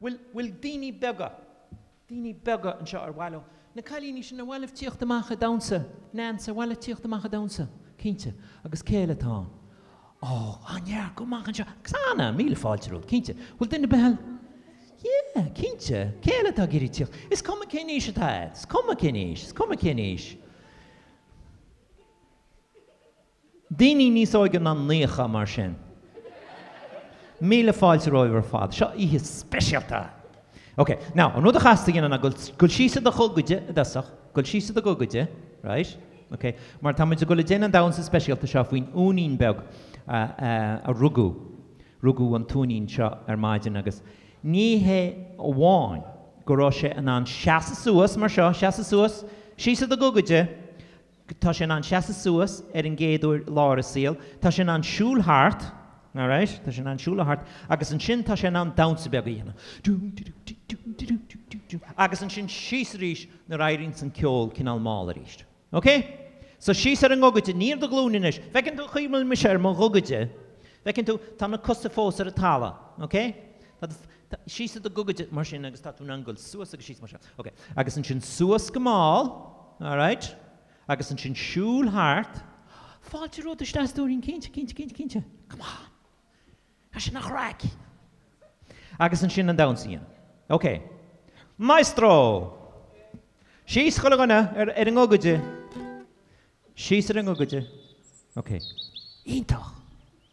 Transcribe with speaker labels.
Speaker 1: Bhuel, bhuel, daoine beaga. Daoine beaga anseo ar mhaith leo, na cailíní sin ar mhaith libh tíocht amach ag damhsa? Neans, ar mhaith leat tíocht amach ag damhsa? Cinnte. Agus cé eile atá ann? Ó, á ndea, gabh amach anseo. Xana, míle fáilte romhat, cinnte. Bhuel, duine ar bith eile? Yeah, cinnte. Cé eile atá ag iarraidh tíocht? Is cuma cén aois atá a'd. Is cuma cén aois. Is cuma cén aois. Daoine níos óige ná naíocha, mar sin. Míle fáilte romhaibh ar fad. Seo oíche speisialta! Ok, now, an rud a chaithfeas tú a dhéanamh ná dul, dul síos i do ghogaide, i dtosach. Dul síos i do ghogaide, right? Ok, mar tá muid ag dul ag déanamh an damhsa speisialta seo faoin uainín beag a, a, a rugadh, rugadh an t-uainín seo ar maidin agus ní hé amháin go raibh sé in ann seasamh suas, mar seo, seasamh suas, síos i do ghogaide, Tá sé in ann seasamh suas ar an gcéad uair lá dá shaol, tá sé in ann siúl thart, alright, tá sé in ann siúl thart agus ansin tá sé in ann damhsa beag a dhéanamh, agus ansin síos arís nuair a éiríonns an ceol cineál mall arís. Ok? So síos ar an ngogaide, ní ar do ghlúine anois. Feiceann tú chaoi a bhfuil mise ar mo ghogaide, feiceann tú, tá na cosa fós ar an talamh, ok? Tá do. Tá, síos i do ghogaide, mar sin, agus tá tú in ann goil suas agus síos mar seo. Ok. Agus ansin suas go mall, alright? Agus ansin siúl thart. Fáilte romhat isteach, a stóirín, cinnte, cinnte, cinnte, cinnte. Come on. Sin í an chraic! Agus ansin an damhsa a dhéanamh. Ok. Maestro! Síos chuile dhuine ar, ar a ngogaide. Síos ar a ngogaide. Ok. Iontach!